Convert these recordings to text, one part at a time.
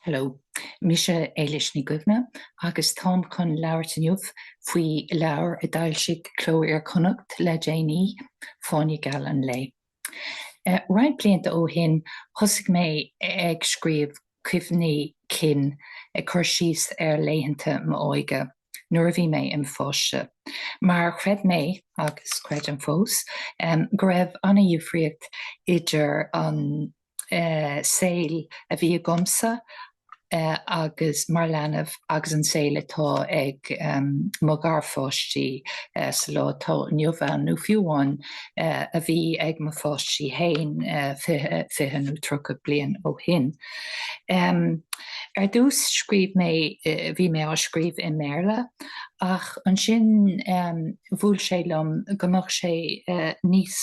Hello. Mise Éilis Ní Dhuibhne agus táim chun labhairt inniu faoi leabhar a d'fhoilsigh Cló Iar-Chonnacht le déanaí, Fáinne Geal an Lae. Roinnt blianta ó shin thosaigh mé ag scríobh cuimhní cinn, ag cur síos ar laethanta m'óige. nuair a bhí mé im' pháiste, mar chreid mé, agus creidim fós, go raibh an-dhifríocht idir an saol a bhí agamsa agus mé im' leanbh agus an saol atá ag mo gharpháistí sa lá atá inniu ann, nó fiú amháin a bhí ag mo pháistí fhéin fiche nó tríocha bliain ó shin. Ar dtús scríobh mé, bhí mé á scríobh i mBéarla ach ansin bhuail sé liom go mbeadh sé níos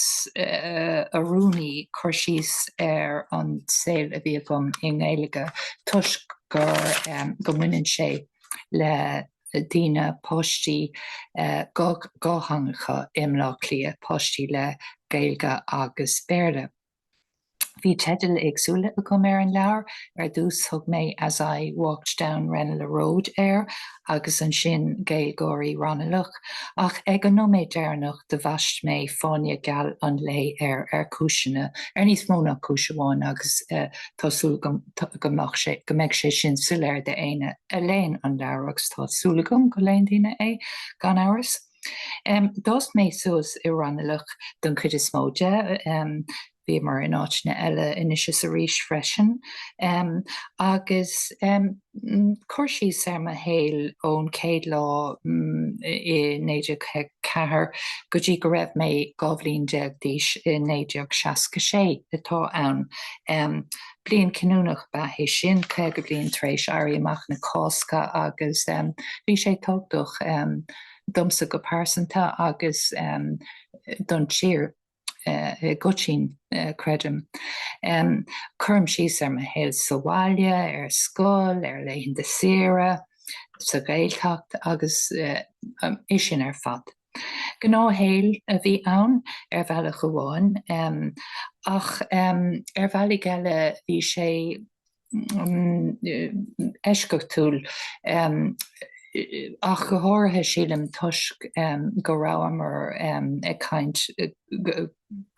oiriúnaí cur síos ar an saol a bhí agam i nGaeilge toisc gur, go mbaineann sé le daoine, páistí dhátheangacha i mBleá Cliath, páistí le Gaeilge agus Béarla. Bhí teidil éagsúla agam ar an leabhar, ar dtús thug mé As I Walked Down Ranelagh Road air agus ansin Gaeilgeoirí Ranalach, ach ag an nóiméad deireanach do bhaist mé Fáinne Geal an Lae air ar cúiseanna, ar níos mó ná cúis amháin agus tá súil agam go mbeidh sé sin soiléir d'éinne a léann an leabhar, agus tá súil agam go léann daoine é gan amhras. D'fhás mé suas i Ranalach don chuid is mó de, bhíomar in áiteanna eile anois is arís freisin, agus cur síos ar mo shaol ón chéad lá i 1954 go dtí go raibh mé dhá bhliain déag d'aois i 1966 atá ann. Bliain chinniúnach ab ea é sin, caoga bliain tar éis Éirí Amach na Cásca, agus bhí sé tábhachtach, domsa go pearsanta agus don tír i gcoitinn, creidim. Cuirim síos ar mo shaol sa bhaile, ar scoil, ar laethanta saoire, sa Ghaeltacht agus é sin ar fad. Gnáthshaol a bhí ann ar bhealach amháin ach ar bhealaigh eile bhí sé eisceachtúil, ach go háirithe sílim toisc go rabhamar ag caint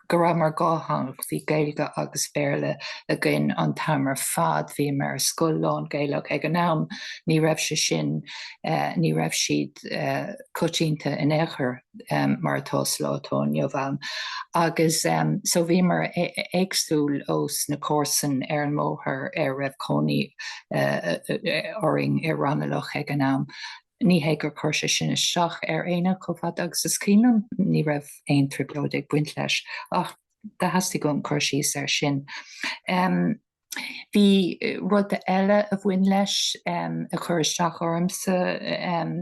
go rabhamar dhátheangach, bhí Gaeilge agus Béarla againn an t-am ar fad, bhíomar ar scoil lán-Ghaelach ag an am, ní raibh sé sin, ní raibh siad coitianta in aon chor. um, mar atá sa lá atá inniu ann. Agus um, so bhíomar éagsúil os na comharsan ar an mbóthar ar raibh cónaí uh, uh, orainn i Ranelagh ag an am. Ní hé gur chuir sé sin isteach ar aoinne chomh fada agus is cuimhin liom, ní raibh aon trioblóid ag baint leis, ach do theastaigh uaim cur síos air sin. Um, Bhí rud eile a bhain leis um, a chuir isteach ormsa um,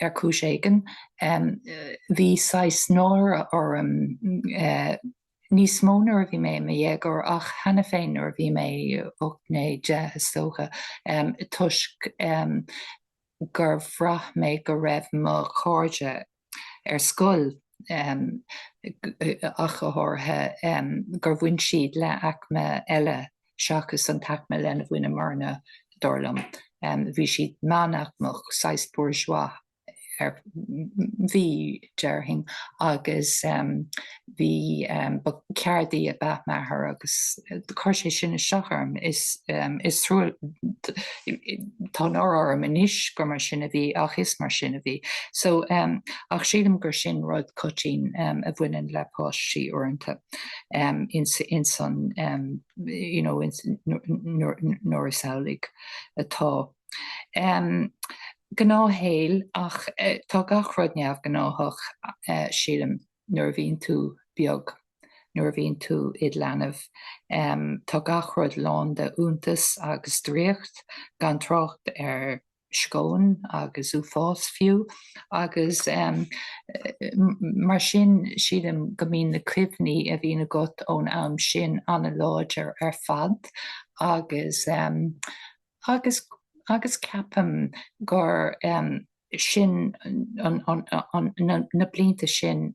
ar chúis éigin, bhí saghas náire orm, níos mó nuair a bhí mé i mo dhéagóir ach cheana féin nuair a bhí mé ocht naoi deich is dócha, toisc gur bhraith mé go raibh mo chairde ar scoil ach go háirithe, gur bhain siad le aicme eile. seachas an t-aicme lena bhaineamarna, dar liom. Bhí siad meánaicmeach, saghas bourgeois a bhí, déarfainn, agus bhí ba ceardaí ab ea m'athair agus chuir sé sin isteach orm. Is is trua tá náire orm anois gur mar sin a bhí ach is mar sin a bhí. So ach sílim gur sin rud coitianta a bhaineann le páistí uaireanta. nuair is amhlaidh atá. Gnáthshaol ach tá gach rud neamhghnáthach, sílim, nuair a bhíonn tú beag, nuair a bhíonn tú id leanbh. Tá gach rud lán d'iontas agus draíocht, gan trácht ar sceon agus uafás fiú agus mar sin sílim go mbíonn na cuimhní a bhíonn agat ón am sin an-láidir ar fad agus agus agus ceapaim gur sin an na blianta sin